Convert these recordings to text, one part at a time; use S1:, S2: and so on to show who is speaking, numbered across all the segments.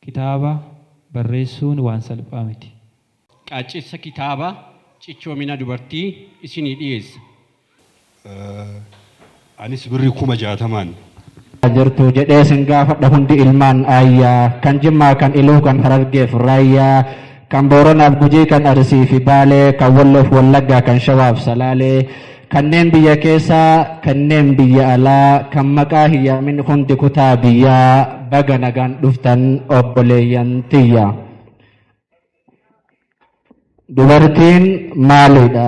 S1: Kitaaba barreessuun waan salphaa miti. Qaaccessa
S2: kitaaba Cichoomina Dubartii isinii dhiyeessa.
S3: Anis birri kuma jaatamaan. Eessa jirtu
S4: jedhee sin gaafadha hundi ilmaan Aayyaa Kan Jimmaa kan Iluu kan Harargeef Raayyaa. kan Booranaaf Gujii, kan Arsii fi Baalee, kan Walloof Wallaggaa, kan Shawaaf Salaalee, kanneen biyya keessaa, kanneen biyya alaa, kan maqaa hin yaamin hundi kutaa biyyaa baga nagaan dhuftan obboleeyyan tiyya. Dubartiin maalidha?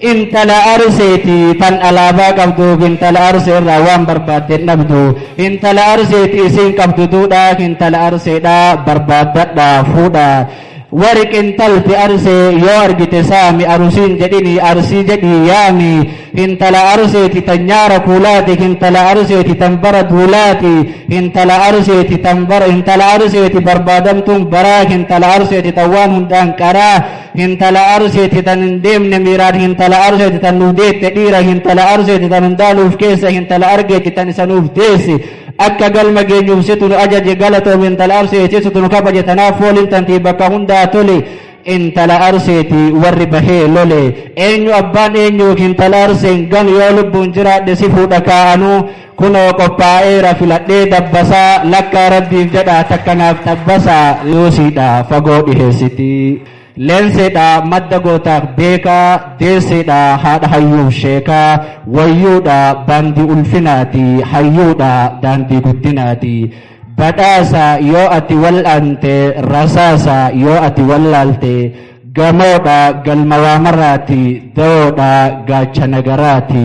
S4: Intala Arseeti tan alaabaa qabduuf intala Arsee irraa waan barbaadde hin dhabdu. Intala Arseeti isiin qabdu duudhaa intala Arseedhaa barbaaddadhaa fuudhaa. Wari qintalti Arsee yoo argite saami Arusiin jedhinii Arsii jedhii yaami. Intala Arseeti tan nyaara kuulaati intala Arseeti tan bara duulaati intala Arseeti tan bara intala Arseeti barbaadamtuun baraa intala Arseeti tan waan hundaan qaraa. hintala arsiiti tan hin deemne miiraan hintala arsiiti tan nuuf deette dhiira hintala arsiiti tan hundaa nuuf keessa hintala argeeti tan isa nuuf deessi akka galma geenyuuf situ nu ajaje galatoom hintala arsiiti situ nu kabaje tanaaf fooliin tantii bakka hundaa tole intala arseeti warri bahee lole eenyu abbaan eenyuuf intala arseen ganu yoo lubbuun jiraadhe si fuudha kaa'anuu Kunoo qophaa'eera filadhee dabbasaa lakkaa rabbiif jedhaa takka naaf xabbasaa yoosiidha fagoo dhiheessitii leenseedha madda gootaaf beekaa deesseedha haadha hayyuuf sheekaa wayyuudha baandii ulfinaati hayyuudha daandii guddinaati badhaasa yoo ati wal'aante rasaasa yoo ati wallaalte gamoodha galma waamaraati dawoodha gaacha nagaraati.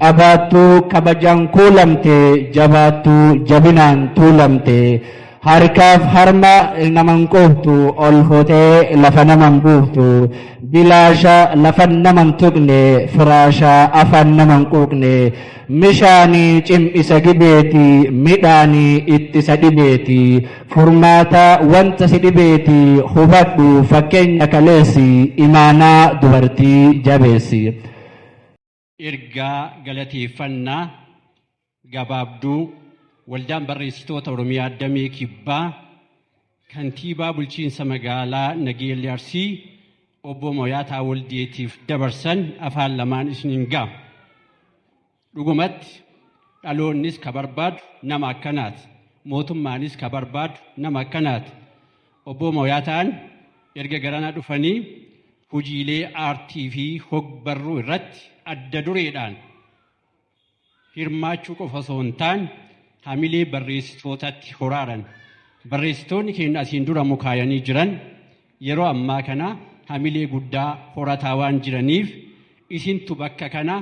S4: Qabaattuu kabajaan kuulamte jabaattuu jabinaan tuulamte harkaaf harma naman quuftu ol futee lafa naman buuftu bilaasha lafan naman tuqne firaasha afaan naman quuqne mishaanii cim'isa gibeeti midhaanii ittisa dhibeeti furmaata wanta si dhibeeti hubadhu fakkeenya kaleessi imaanaa dubartii jabeessi.
S2: Ergaa galateeffannaa gabaabduu Waldaan Barreessitoota Oromiyaa Damee Kibbaa Kantiibaa Bulchiinsa Magaalaa Nageellee Arsii Obbo Moyaataa Waldeetiif dabarsan afaan lamaan isiniin ga'a. Dhugumatti dhaloonnis ka barbaadu nama akkanaati. Mootummaanis ka barbaadu nama akkanaati. Obboo Mooyaataan erga garana dhufanii hojiilee aartii fi hogbarruu irratti adda dureedhaan hirmaachuu qofa osoo hin taane hamilee barreessitootatti horaaran. Barreessitoonni keenya asiin dura mukaayanii jiran yeroo ammaa kana hamilee guddaa horataa waan jiraniif isintu bakka kana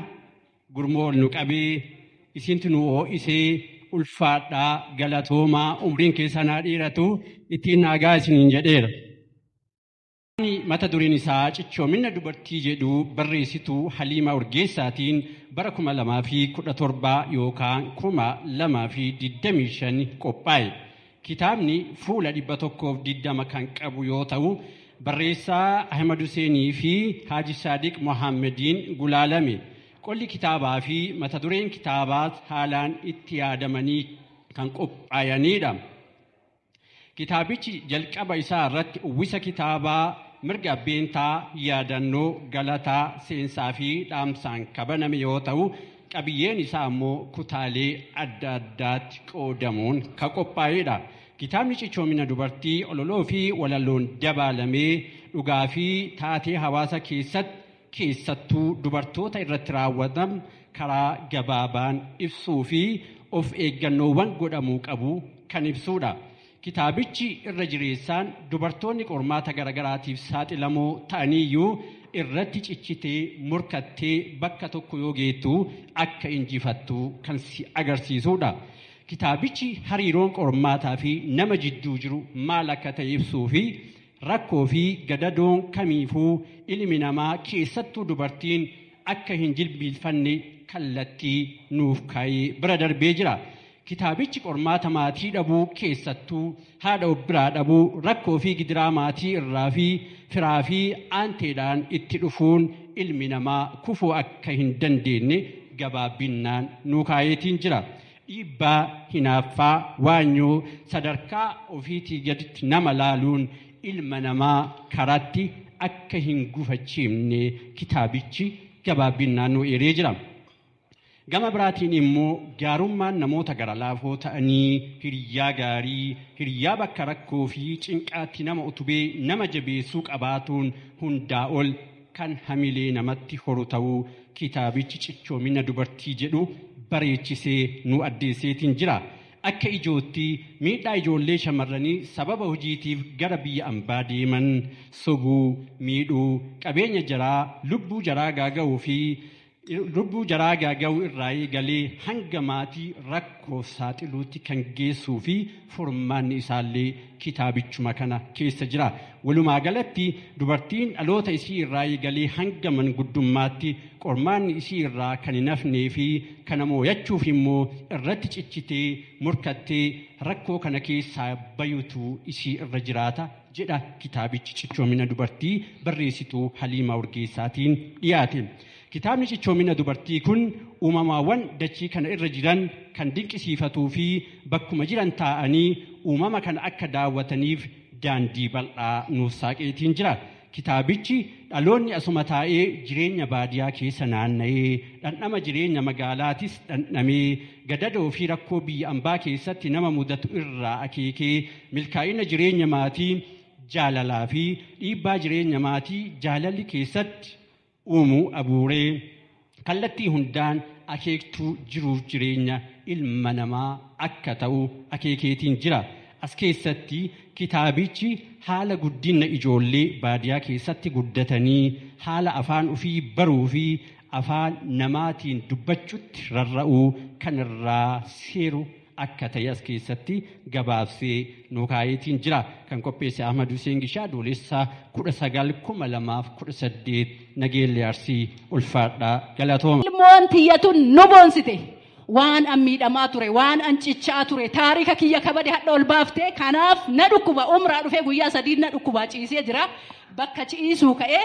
S2: Gurmoo ol nu qabee isiintu nu oo'isee ulfaadhaa galatoomaa umriin keessan haa dheeratu ittiin naagaa isiniin jedheera. mata dureen isaa cichoomina dubartii jedhu barreessituu Haliimaa Urgeessaatiin bara 2017 yookaan 2025 qophaa'e. Kitaabni fuula 120 kan qabu yoo ta'u, barreessaa Ahimad Huseenii fi Haaji Saadiq Mohaammediin gulaalame. Qolli kitaabaa fi mata dureen kitaabaas haalaan itti yaadamanii kan qophaa'aniidha. Kitaabichi jalqaba isaa irratti uwwisa kitaabaa mirga abbeentaa, yaadannoo, galataa, seensaa fi dhaamsaan kabaname yoo ta'u, Qabiyyeen isaa ammoo kutaalee adda addaatti qoodamuun ka qophaa'eedha. Kitaabni cichoomina dubartii ololoo fi walaloon dabaalamee dhugaa fi taatee hawaasa keessatti keessattuu dubartoota irratti raawwatan karaa gabaabaan ibsuu fi of eeggannoowwan godhamuu qabu kan ibsuudha. Kitaabichi irra jireessaan dubartoonni qormaata garagaraatiif saaxilamoo ta'aniiyyuu irratti cichitee, morkattee bakka tokko yoo geettu akka injifattu kan si agarsiisuudha. Kitaabichi hariiroon qormaataa fi nama jidduu jiru maal akka ta'e ibsuu fi rakkoo fi gadadoon kamiifuu ilmi namaa keessattuu dubartiin akka hin jilbiilfanne kallattii nuuf kaa'ee bira darbee jira. Kitaabichi qormaata maatii dhabuu keessattuu haadha of biraa dhabuu, rakkoo fi gidiraa maatii irraa fi firaa fi aanteedhaan itti dhufuun ilmi namaa kufuu akka hin dandeenye gabaabinnaan nuu kaayeetiin jira. Dhiibbaa, hinaaffaa, waanyoo, sadarkaa ofiitii gaditti nama laaluun ilma namaa karaatti akka hin gufachiifne kitaabichi gabaabinnaan nuu eeree jira. Gama biraatiin immoo gaarummaan namoota gara laafoo ta'anii hiriyyaa gaarii, hiriyyaa bakka rakkoo fi cinqaatti nama utubee nama jabeessuu qabaatuun hundaa ol kan hamilee namatti horu ta'uu kitaabichi cichoomina dubartii jedhu bareechisee nu addeesseetiin jira. Akka ijootti miidhaa ijoollee shamarranii sababa hojiitiif gara biyya ambaa deeman sobuu, miidhuu, qabeenya jaraa, lubbuu jaraa gaaga'uu fi Lubbuu jaraa gaaga'uu irraa eegalee hanga maatii rakkoof saaxiluutti kan geessuu fi furmaanni isaallee kitaabichuma kana keessa jira. Walumaa galatti dubartiin dhaloota isii irraa eegalee hanga manguddummaatti qormaanni isii irraa kan hin hafnee fi kana mooyachuuf immoo irratti cichitee morkattee rakkoo kana keessaa bayutu isii irra jiraata. jedha kitaabichi cichoomina dubartii barreessituu Haliimaa Urgeessaatiin dhiyaate. Kitaabni cichoomina dubartii kun uumamaawwan dachii kana irra jiran kan dinqisiifatuu fi bakkuma jiran taa'anii uumama kana akka daawwataniif daandii bal'aa nuuf saaqeetiin jira. Kitaabichi dhaloonni asuma taa'ee jireenya baadiyaa keessa naanna'ee dhandhama jireenya magaalaatis dhandhamee Gadadoo fi rakkoo biyya ambaa keessatti nama mudatu irraa akeekee milkaa'ina jireenya maatii jaalalaa fi dhiibbaa jireenya maatii jaalalli keessatti uumu abuuree kallattii hundaan akeektuu jiruuf jireenya ilma namaa akka ta'u akeekeetiin jira. As keessatti kitaabichi haala guddinna ijoollee baadiyaa keessatti guddatanii haala afaan ofii baruu fi afaan namaatiin dubbachutti rarra'uu kan irraa seeru akka ta'e as keessatti gabaabsee nuu kaa'eetiin jira. Kan qopheesse Ahmad Hussein Gishaa Adoolessa 19/2018 Nageellee Arsii ulfaadhaa galatooma. Ilmoon tiyya tun
S5: nu boonsite. Waan an miidhamaa ture, waan an cichaa ture, taarika kiyya kabade hadha ol baafte. Kanaaf na dhukkuba. Umraa dhufee guyyaa sadii na dhukkubaa ciisee jira. Bakka ciisuu ka'ee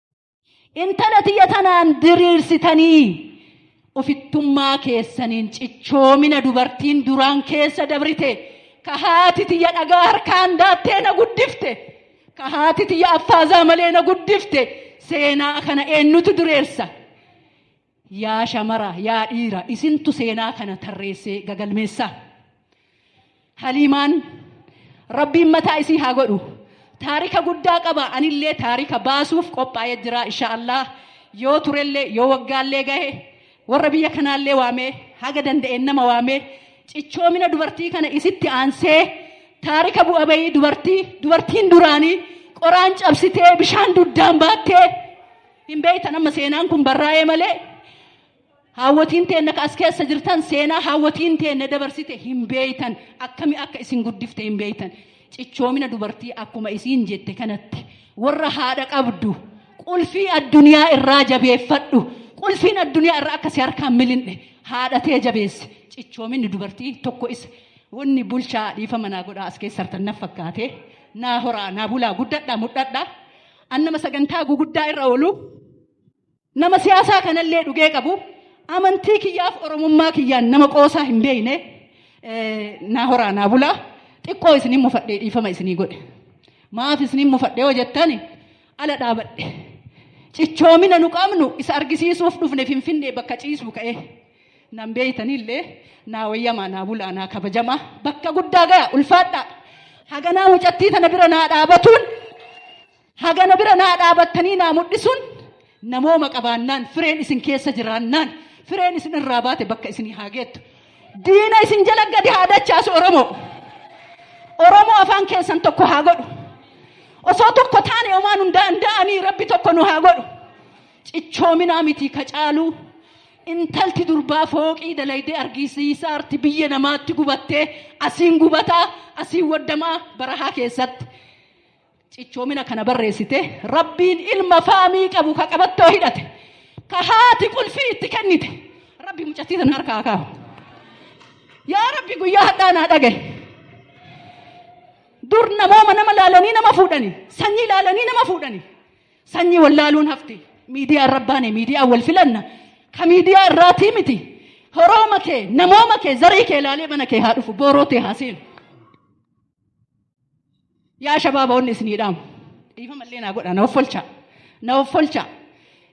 S5: intala tiyya tanaan diriirsitanii ofittummaa keessaniin cichoomina dubartiin duraan keessa dabrite ka haati tiyya dhagaa harkaan daattee na guddifte ka haati tiyya affaazaa malee na guddifte seenaa kana eenyutu dureessa Yaa shamara, yaa dhiira, isintu seenaa kana tarreessee gagalmeessa. Haliimaan Rabbiin mataa isii haa godhu. Taarika guddaa qaba. Anillee taarika baasuuf qophaa'ee jira insha Allah. Yoo turellee yoo waggaallee gahe warra biyya kanaallee waamee haga danda'een nama waamee cichoomina dubartii kana isitti aansee taarika bu'a bayii dubartii dubartiin duraanii qoraan cabsitee bishaan duddaan baattee Hin beektan amma seenaan kun barraa'ee malee haawwatiin teenna ka as keessa jirtan seenaa haawwatiin teenna dabarsite hin beektan akkami akka isin guddifte hin beektan cichoomina dubartii akkuma isiin jette kanatti warra haadha qabdu qulfii addunyaa irraa jabeeffadhu qulfiin addunyaa irraa akka si harkaan milin'e haadha tee jabeesse cichoominni dubartii tokko isa wanni bulchaa dhiifa manaa godhaa as keessa hartan na fakkaate naa horaa naa bulaa guddadhaa mudhadhaa. An nama sagantaa guguddaa irra oolu, nama siyaasaa kanallee dhugee qabu, amantii kiyyaaf oromummaa kiyyaan nama qoosaa hin beekne naa horaa naa bulaa xiqqoo isiniin mufadhee dhiifama isinii godhe. Maaf isiniin mufadhee yoo jettan ala dhaabadhe. Cichoomina nu qabnu isa argisiisuuf dhufne finfinnee bakka ciisuu ka'ee. Nan beeytanillee naa wayyamaa naa bulaa naa kabajamaa bakka guddaa gaya ulfaadhaa. Haganaa mucattii tana bira naa dhaabatuun hagana bira naa dhaabattanii naa mudhisuun namooma qabaannaan fireen isin keessa jiraannaan fireen isin irraa baate bakka isinii haa geettu. Diina isin jala gadi haa dachaasu Oromoo. Oromoo afaan keessan tokko haa godhu. Osoo tokko taane omaa nun danda'anii rabbi tokko nu haa godhu. Cichoominaa miti ka caaluu Intalti durbaa fooqii dalaydee argisiisa arti biyya namaatti gubattee asiin gubataa asiin waddamaa barahaa keessatti cichoomina kana barreessite rabbiin ilma faamii qabu ka qabattoo hidhate ka haati qulfii itti kennite rabbi mucattii sana harkaa kaahu yaa rabbi guyyaa hadhaa naa dhagaye dur namooma nama laalanii nama fuudhani sanyii laalanii nama fuudhani Sanyi wallaaluun hafte. Miidiyaa arrabbaane miidiyaa wal filanna. Ka miidiyaa irraatii miti. Horooma kee, namooma kee, zarii kee ilaalee mana kee haa dhufu. Booroo tee haa seenu. Yaa shabaaba onni isinii dhaamu. Dhiifama illee naa godha. Na offolchaa. Na offolchaa.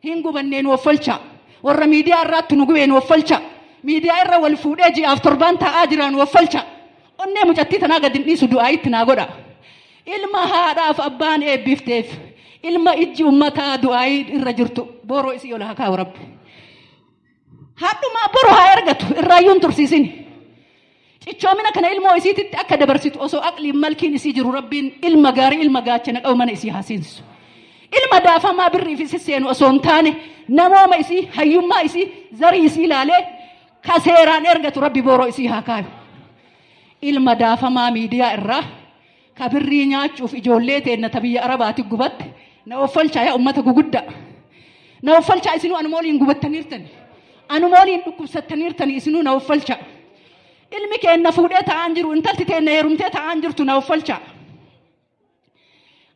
S5: Hin gubannee nu offolchaa. Warra miidiyaa irraatti nu gubee nu offolchaa. Miidiyaa irra wal fuudhee ji'aaf torbaan taa'aa jira nu offolchaa. Onnee mucattii tanaa gad hin dhiisu du'aa itti naa godha. Ilma haadhaaf abbaan eebbifteef ilma ijji ummataa du'aayii irra jirtu booroo isii ol haa kaa'u rabbi. Haadhumaa boru haa ergatu irraayyuu hin tursiisin. Cichoomina kana ilmoo isiititti akka dabarsitu osoo aqliin malkiin isii jiru rabbiin ilma gaarii ilma gaachana qabu mana isii haa seensisu. Ilma daafamaa birriif isi seenu osoo hin taane namooma isii hayyummaa isii zarii isii ilaalee ka seeraan ergatu rabbi booroo isii haa kaayu. Ilma daafamaa miidiyaa irraa Ka birrii nyaachuuf ijoollee teenna ta biyya Arabaati gubatte na offolchaa yaa ummata guguddaa. Na offolchaa isinuu anuma waliin gubattaniirtani. Anuma waliin dhukkubsattaniirtani isinuu na offolchaa. Ilmi keenna fuudhee taa'aan jiru intalti teenna heerumtee taa'aan jirtu na offolchaa.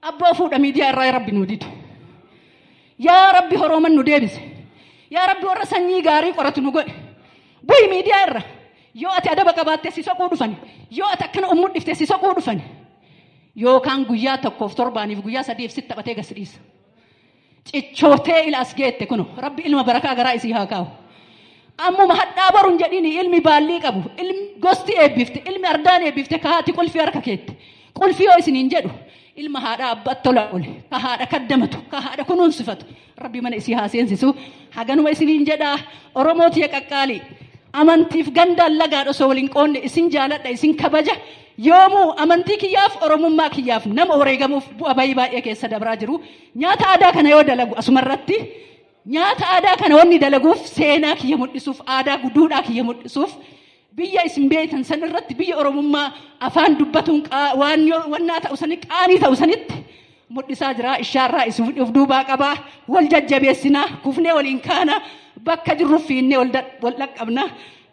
S5: Abboo fuudha miidiyaa irraa rabbi nu didu. Yaa rabbi horooman nu deebise. Yaa rabbi warra sanyii gaarii qoratu nu godhi. Bu'i miidiyaa irra. Yoo ati adaba qabaatte si soquu dhufani. Yoo ati akkana of mudhifte si soquu dhufani. Yookaan guyyaa tokkoof torbaaniif guyyaa sadiif sitti taphatee gasi dhiisa. Cichootee ila as geette kuno rabbi ilma barakaa garaa isii haa kaa'u. Ammuma hadhaa boruun jedhini ilmi baallii qabu ilmi gosti eebbifte ilmi ardaan eebbifte kahaati qulfii harka keette qulfii yoo isiniin jedhu Ilma haadha abbaatti tola oole, ka haadha kaddamatu, ka haadha kunuunsifatu. Rabbi mana isii haa seensisu. Haganuma isiniin jedha Oromoo tiya qaqqaalii. Amantiif gandaan lagaan osoo waliin qoonne isin jaaladha, isin kabaja. Yoomuu amantii kiyyaaf Oromummaa kiyyaaf nama wareegamuuf bu'a bayii baay'ee keessa dabraa jiru. Nyaata aadaa kana yoo dalagu asumarratti nyaata aadaa kana wanni dalaguuf seenaa kiyya mul'isuuf aadaa guduudhaa kiyya mul'isuuf Biyya isin beektan san irratti biyya Oromummaa afaan dubbatuun qaa- waan yoo- wannaa ta'u sani qaanii ta'u sanitti mul'isaa jira. Ishaarraa isin of duubaa qabaa. Wal jajjabeessinaa. Kufnee waliin kaana. Bakka jirru fiinnee wal dha- wal dhaqqabna.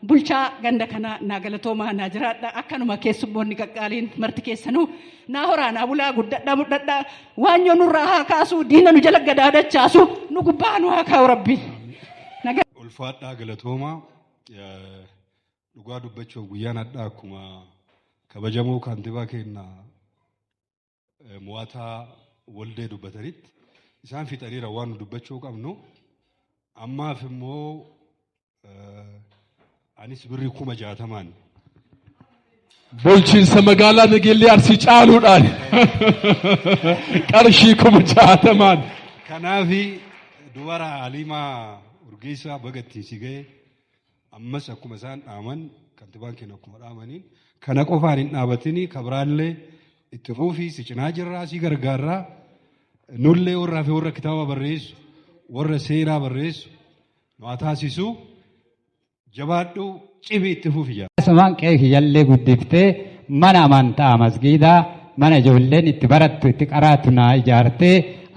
S5: Bulchaa ganda kanaa naa galatoomaa naa jiraadha. Akkanuma keessummoonni qaqqaaliin marti keessanuu naa horaa naa bulaa guddadhaa mudhadhaa. Waan yoo nurraa haa kaasuu diina nu jala gadaadachaasu nu gubbaa nu haa kaa'u rabbi. Nagaa.
S3: ulfaadhaa galatoomaa Dhugaa dubbachuuf guyyaan hadhaa akkuma kabajamoo kaantibaa keenya mo'ataa waldee dubbatanitti isaan fixaniira waan nu dubbachuu qabnu ammaaf immoo anis birri kuma jaatamaan
S6: Bulchiinsa magaalaa Nageellee Arsii caaluudhaan qarshii kuma jaatamaan. Kanaaf
S3: dubara Aliimaa Urgeessaa baga ittiin si ga'e ammas akkuma isaan dhaaman kantibaan keenya akkuma dhaamaniin kana qofaan hin dhaabatini kabraallee itti fuufii si cinaa jirraa si gargaarraa nullee warraa fi warra kitaaba barreessu warra seenaa barreessu nu haa taasisu Jabaadhu cimi itti fufi jaa. Asumaan qe'ee kiyyallee
S7: guddiftee mana amantaa masgiidaa mana ijoolleen itti barattu itti qaraatu naa ijaartee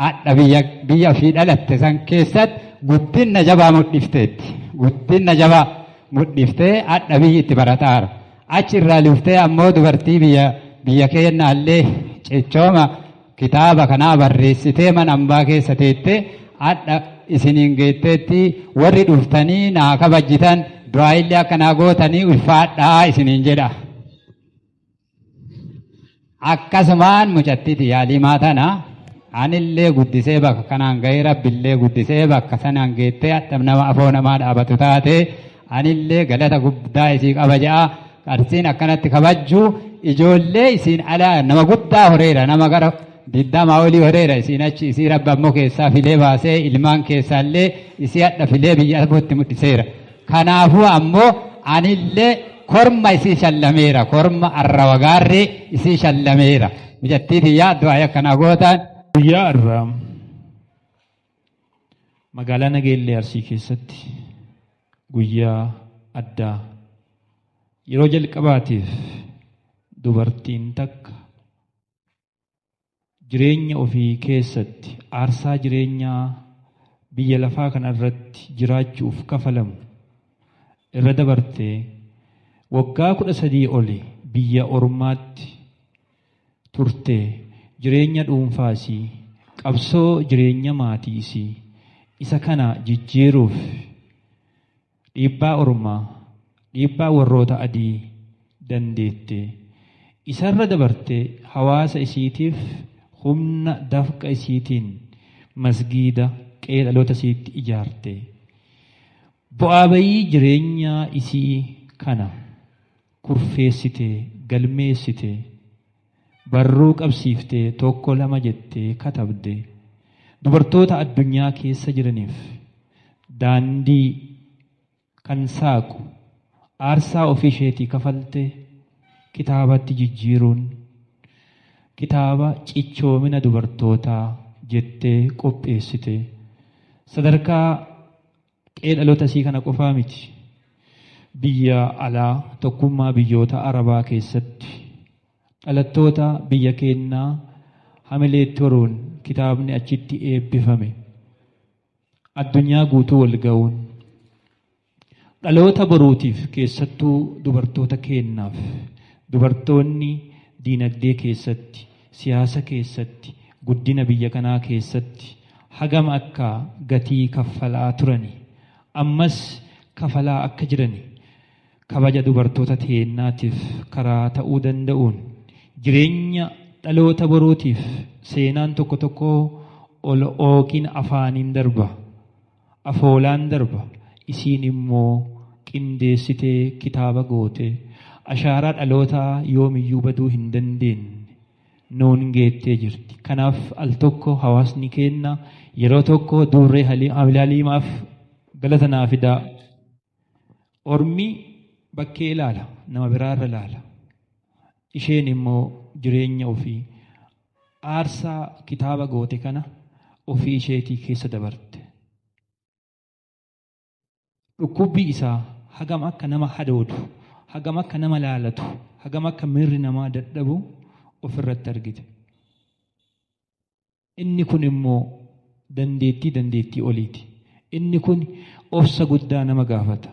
S7: adha biyya biyya ofii dhalatte san keessatti guddinna jabaa mudhifteetti. Guddinna jabaa mudhiftee adha biyyi itti barataara. Achi irraa luftee ammoo dubartii biyya biyya keennaallee cichooma Kitaaba kanaa barreessitee mana ambaa keessa teettee adha isiniin geetteetti warri dhuftanii naa kabajjitan du'aayillee akka naa gootanii ulfaadhaa isiniin jedha. Akkasumaan mucattiiti yaalii maatana anillee guddisee bakka kanaan gahee rabbillee guddisee bakka sanaan geettee adha nama afoo namaa dhaabatu taatee Anillee galata guddaa isii qaba ja'a. Qarsiin akkanatti kabajju ijoollee isiin alaa nama guddaa horeera nama gara digdamaa olii horeera isiin achi isii rabbi ammoo keessaa filee baasee ilmaan keessaallee isii hadha filee biyya arbootti mudhiseera. Kanaafuu ammoo anillee korma isii shallameera korma arra wagaarree isii shallameera. Mijattii tiyyaa du'aa akkanaa gootaan. Guyyaa irraa
S1: Magaalaa Nageellee Arsii keessatti guyyaa addaa yeroo jalqabaatiif dubartiin takka jireenya ofii keessatti aarsaa jireenyaa biyya lafaa kana irratti jiraachuuf kafalamu irra dabartee waggaa kudha sadii oli biyya ormaatti turte jireenya dhuunfaa isii, qabsoo jireenya maatii isii isa kana jijjiiruuf dhiibbaa ormaa, dhiibbaa warroota adii dandeette. Isarra dabartee hawaasa isiitiif humna dafqa isiitiin masgiida qe'ee dhaloota isiitti ijaarte. Bu'aa bayii jireenyaa isii kana. kurfeessitee, galmeessite, barruu qabsiiftee tokko lama jettee katabde dubartoota addunyaa keessa jiraniif daandii kan saaqu aarsaa ofii isheetii kafalte kitaabatti jijjiiruun kitaaba cichoomina dubartootaa jettee qopheessite sadarkaa Qe'ee dhaloota isii kana qofaa miti. Biyya alaa tokkummaa biyyoota Arabaa keessatti dhalattoota biyya keennaa hamileetti horuun kitaabni achitti eebbifame addunyaa guutuu wal ga'uun dhaloota boruutiif keessattuu dubartoota keennaaf dubartoonni diinagdee keessatti siyaasa keessatti, guddina biyya kanaa keessatti hagam akka gatii kaffalaa turani, ammas kafalaa akka jirani, kabaja dubartoota teennaatiif karaa ta'uu danda'uun, jireenya dhaloota boruutiif seenaan tokko tokkoo ol ookiin afaaniin darba. afoolaan darba isiin immoo qindeessitee kitaaba goote ashaaraa dhalootaa yoomiyyuu baduu hin dandeenye nuun geettee jirti. Kanaaf al tokko hawaasni keenna yeroo tokko duurree haliimaaf galata naa fidaa. Ormi bakkee ilaala, nama biraa irra ilaala. Isheen immoo jireenya ofii aarsaa kitaaba goote kana ofii isheetii keessa dabarte. Dhukkubbii isaa hagam akka nama hadoodu, hagam akka nama laalatu, hagam akka miirri namaa dadhabu ofirratti argite. Inni kun immoo dandeettii dandeettii oliiti. Inni kun obsa guddaa nama gaafata.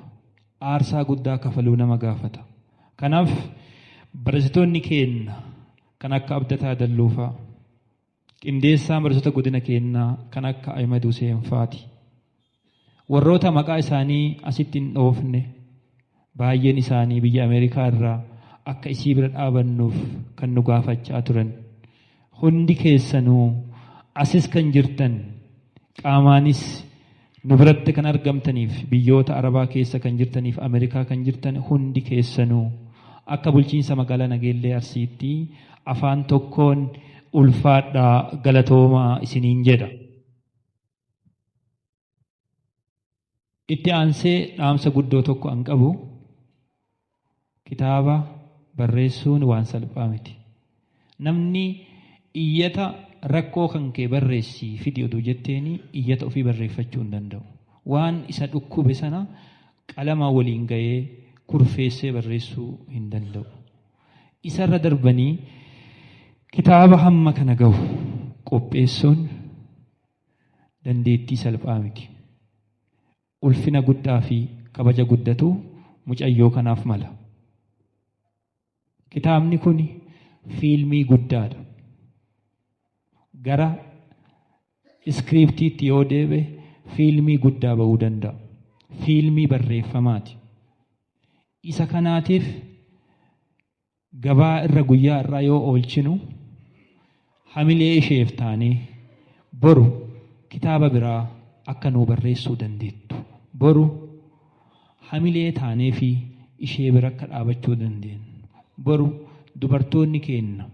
S1: Aarsaa guddaa kafaluu nama gaafata. Kanaaf barasitoonni keenna kan akka Abdataa Dalluufaa, qindeessaa barasota godina keennaa kan akka Ahimed Huseen faati. Warroota maqaa isaanii asitti hin dhoofne baay'een isaanii biyya Ameerikaa irraa akka isii bira dhaabannuuf kan nu gaafachaa turan. Hundi keessanuu asis kan jirtan qaamaanis nu biratti kan argamtaniif biyyoota Arabaa keessa kan jirtaniif Ameerikaa kan jirtan hundi keessanuu akka bulchiinsa magaalaa Nageellee Arsiitti afaan tokkoon ulfaadhaa galatoomaa isiniin jedha. Itti aansee dhaamsa guddoo tokko an qabu kitaaba barreessuun waan salphaa miti. Namni iyyata rakkoo kan kee barreessii fidi oduu jetteeni iyyata ofii barreeffachuu hin danda'u. Waan isa dhukkube sana qalama waliin ga'ee kurfeessee barreessuu hin danda'u. Isarra darbanii kitaaba hamma kana gahu qopheessuun dandeettii salphaa miti. Ulfina guddaa fi kabaja guddatu mucayyoo kanaaf mala. Kitaabni kun fiilmii guddaadha. Gara iskiriiptiitti yoo deebe fiilmii guddaa ba'uu danda'a. Fiilmii barreeffamaati. Isa kanaatiif gabaa irra guyyaa har'aa yoo oolchinu hamilee isheef taanee boru kitaaba biraa akka nuu barreessuu dandeettu boru hamilee taanee fi ishee bira akka dhaabachuu dandeenyu boru dubartoonni keenna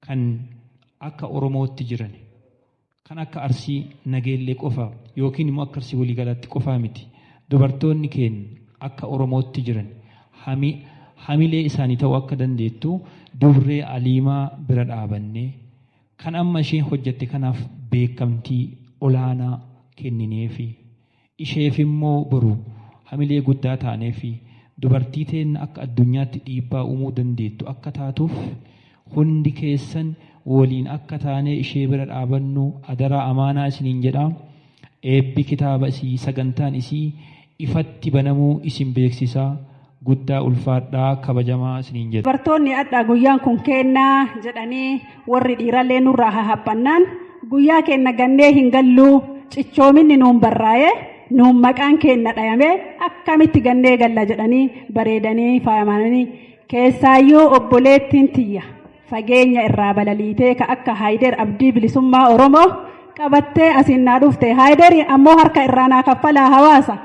S1: kan akka oromootti jiran Kan akka Arsii, Nageellee qofa yookiin immoo akka Arsii waliigalaatti qofaa miti. Dubartoonni keenya akka Oromootti jiran hamilee isaanii ta'uu akka dandeettu Dubree Aliimaa bira dhaabannee kan amma isheen hojjette kanaaf beekamtii olaanaa kennineefi. Isheefimmoo boru hamilee guddaa taaneefi dubartii teenna akka addunyaatti dhiibbaa uumuu dandeettu akka taatuuf hundi keessan woliin akka taanee ishee bira dhaabannu adaraa amaanaa isiniin jedha. Eebbi kitaaba isii, sagantaan isii ifatti banamuu isin beeksisa. Guddaa ulfaadhaa kabajamaa isiniin jedha. Dubartoonni adhaa guyyaan
S8: kun keennaa jedhanii warri dhiirallee nurraa hahaphannaan guyyaa keenna gannee hin galluu cichoominni nuun barraa'ee nuun maqaan keenna dhayamee akkamitti gannee galla jedhanii bareedanii faayamanii keessaayyuu obboleettiin tiyya fageenya irraa balaliitee ka akka haayideer abdii bilisummaa oromoo qabattee asiin naa dhufte haayideer ammoo harka irraa naa kaffalaa hawaasa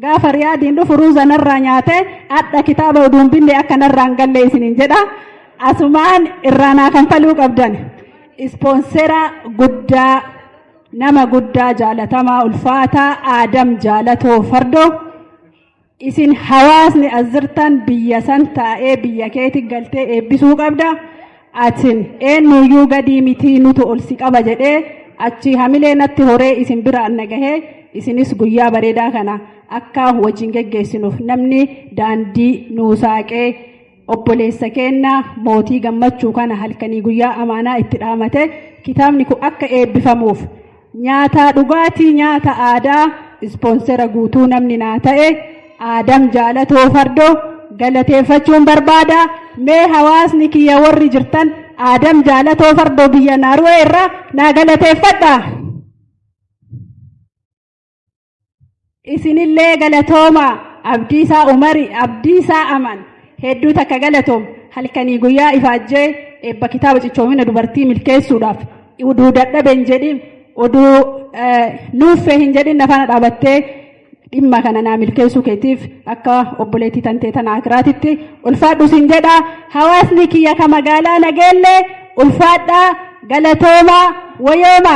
S8: Gaafa Riyaadiin dhufu ruuza narraa nyaate hadha kitaaba oduun binne akka narraa hin galle isiniin jedha. Asumaan irraa naa kanfaluu qabdan. Ispoonsera guddaa nama guddaa jaalatamaa ulfaataa Aadam Jaalatoo Fardoo. Isin hawaasni as jirtan biyya san taa'ee biyya keetti galtee eebbisuu qabda. Atin eennuuyyuu gadii mitii nutu ol si qaba jedhee achii hamilee natti horee isin biraan na gahee isinis guyyaa bareedaa kana akka wajjin geggeessinuuf namni daandii nuu saaqee obboleessa keenna mootii gammachuu kana halkanii guyyaa amaanaa itti dhaamate kitaabni kun akka eebbifamuuf Nyaataa dhugaatii nyaata aadaa ispoonsera guutuu namni naa ta'e aadam jaalatoo fardo galateeffachuun barbaada mee hawaasni kiyya warri jirtan aadam jaalatoo fardoo biyya naaru'ee irraa naa galateeffadha. Isinillee galatooma Abdiisaa Umari Abdiisaa Aman hedduu takka galatoom halkanii guyyaa ifaajjee eebba kitaaba cichoomina dubartii milkeessuudhaaf oduu dadhabe hin jedhin oduu nuuffee hin jedhin nafaana dhaabattee dhimma kana naa milkeessuu keetiif akka obboleettii tantee tana akiraatitti ulfaadhu sin jedha hawaasni kiyya ka magaalaa nageellee ulfaadhaa galatoomaa wayooma